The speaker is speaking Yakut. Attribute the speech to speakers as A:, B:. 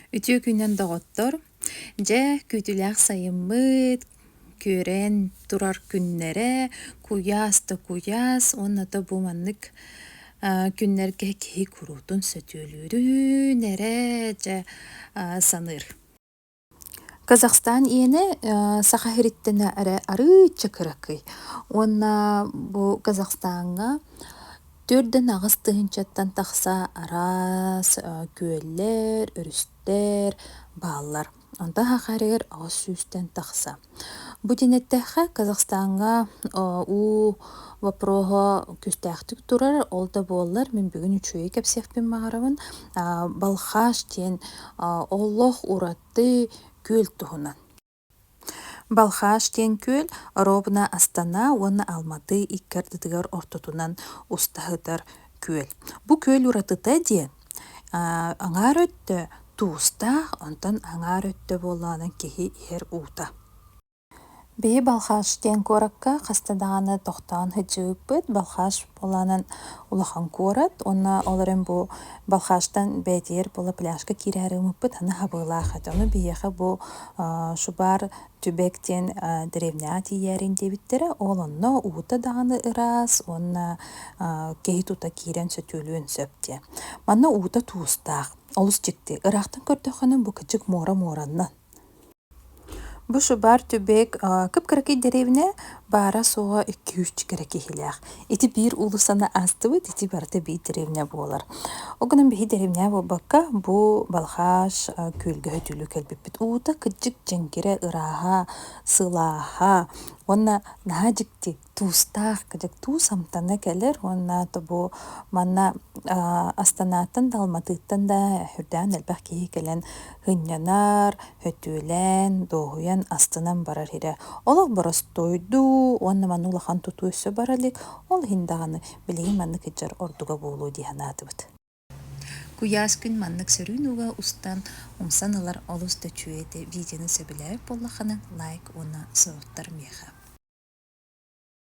A: Үтүө күнүнэн, доҕоттор! Дьэ, күүтүүлээх сайыммыт күөрэн турар күннэрэ куйаас да куйаас уонна да бу маннык күннэргэ киһи куруутун сөтүөлүүрүн эрэ дьэ саныыр. Казахстан иэнэ саха иһириттэнэ эрэ арыычча кыракый уонна бу Казахстаҥҥа түөрт да аҕыс тыһыынчаттан тахса араас күөллэр, өрүстэр бааллар. Онтон саха иһэригэр аҕыс сүүстэн тахса. Бу диэн эттэххэ, Казахстаҥҥа уу вопроһа күүстээхтик турар. Ол да буоллар мин бүгүн үчүгэйи кэпсиэхпин баҕарабын. Балхаш диэн олох ураты күөл туһунан. Балхаш диэн күөл Робна Астана уонна Алматы икки ардытыгар ортотунан устаһытар күөл. Бу күөл уратыта диэн Аҥаар өттө туустаах, онтон аҥаар өттө буоллаҕына киһи иһэр уута. Били Балхаш диэн куоракка хаста даҕаны тохтоон сылдьыбыппыт. Балхаш буолаанан улахан куорат. Уонна ол эрэн бу Балхаштан бээтийэр буола пляжка киирээри ылыммыппыт. Аны хабыылаах этэ. Ону биһиэхэ бу шубар Түбэк диэн древняя тиийээрин диэбиттэрэ. Ол онно уута даҕаны ыраас уонна киһи тута киирэн сөтүөлүөн сөп диэн. Манна уута туустаах. Олус дьикти. Ыраахтан көрдөххө бу кычык муора муораннан. Бу шубар түбэк кып-кыракый дэриэбинэ баара-суоҕа икки-үс кэрэ киһилээх. Ити биир уулуссаны аастыбыт, ити барыта биир деревня буолар. Ол гынан биһи деревня буолбакка, бу Балхаш күөлгөһө түлүү кэлбиппит. Уута кырдьык дьэҥкирэ, ырааһа, сылааһа уонна наһаа дьикти, туустаах, кырдьык туус амтана кэлэр уонна бу манна Астанааттан да, Алматыттан да үрдээн элбэх киһи кэлэн һынньанар, Өтүүлээн, дуоһуйан, астынан барар ирэ. Олох боростуой дуу, уонна манна улахан тутуу өссө бара илик. Ол иһин даҕаны билигин маннык ыччар ордуга буолуо дии санаатыбыт. Куйаас күн маннык сөрүүн ууга устан, умсан ылар олус да үчүгэй этэ. Видеоны сөбүлээбит буоллаххына, лайк уонна сорудтар миэхэ.